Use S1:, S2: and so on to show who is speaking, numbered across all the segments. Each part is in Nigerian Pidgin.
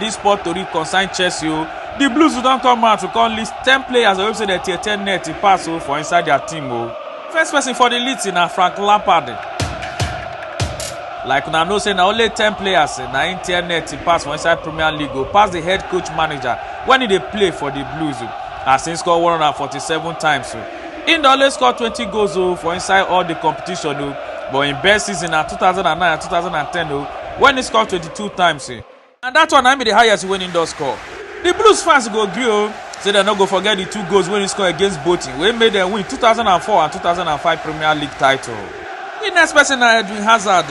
S1: Dis sport tori concern Chelsea o. Di Blues don come out to come list ten players wey be say dem tear tear net pass o for inside dia team o. First person for di list na Frank Lampard. Like una know say na only ten players na im tear net pass for inside Premier League o, pass di head coach manager wen e dey play for di Blues o, as im score one hundred and forty-seven times o. Im don only score twenty goals o for inside all di competition o, but im best season na two thousand and nine and two thousand and ten o wen im score twenty-two times. and dat one na be di highest wey im don score di blues fans go gree o say dem no go forget di two goals wey im score against bolton wey make dem win 2004 and 2005 premier league title di next person na edwin hazard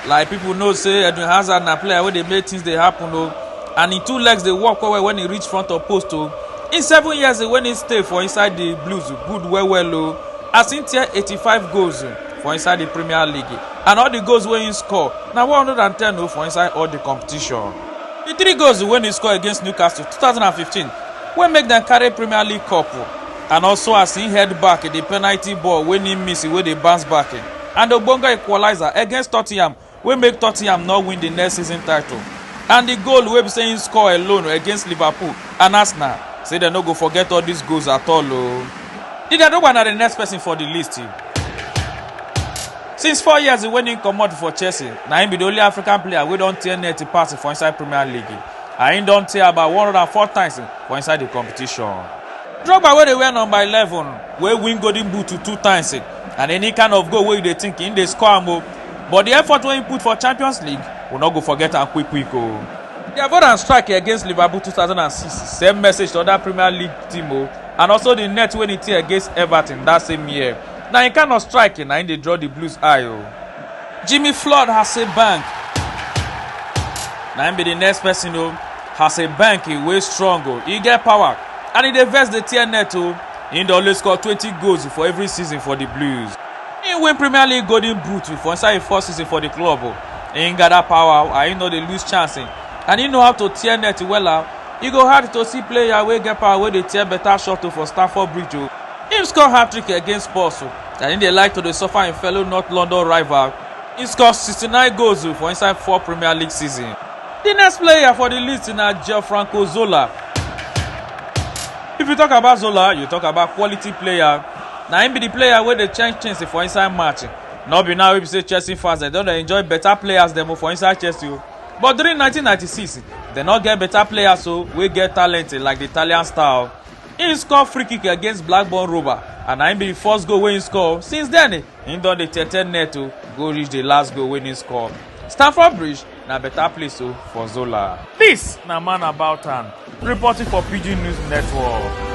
S1: like pipo know say edwin hazard na player wey dey make things dey happen o and im two legs dey work well well wen e reach front of post o in seven years wen im stay for inside di blues good well well o as im tear 85 goals for inside di premier league and all di goals wey im score na 110 o for inside all di competition di three goals wey im score against newcastle 2015 wey make dem carry premier league cup and also as im head back di penalty ball wey im miss wey dey bounce back and ogbonge equaliser against tottenham wey make tottenham no win di next season title and di goal wey be say im score alone against liverpool and arsenal say dem no go forget all dis goals at all o di dadogba na di next person for di list since four years wen im comot for chelsea na im be di only african player wey don tear net pass for inside premier league and im don tear about 104 times for inside di competition drogba wey dey wear number 11 wey win golden boot two times and any kind of goal wey you dey think im dey score am o but di effort wey im put for champions league we no go forget am quick quick o. Di avoidance strike against liverpool 2006 send message to oda premier league team o and also di net wey e tear against everton dat same year na im kind of strike na im dey draw di blues eye o. jimmy flood hasselbaink na im be di next person o hasselbaink wey strong o e get power and e dey vex dey tear net o im dey always score twenty goals for every season for di blues. He win Premier League golden boot for inside him first season for the club o. He gather power and he no dey lose chance eh. and he know how to tear net wella. E go hard to see player wey get power wey dey tear better shot o for Stamford Bridge o. Him score hat-trick against Spurs o and he dey like to dey suffer him fellow North London rival. He score 69 goals o for inside four Premier League season. The next player for the list na Gianfranco Zola. If you talk about Zola, you talk about quality player. na him be the player wey dey change things for inside match no be now wey be say chelsea fans dem don dey enjoy better players dem for inside chelsea o but during 1996 dem no get better players o wey get talent like the italian star o him score free kick against blackburn rover and na him be the first goal wey him score since then him don dey tete net o go reach the last goal wey him score stamford bridge Na better place o for Zola. This na man about town reporting for Pidgin News Network.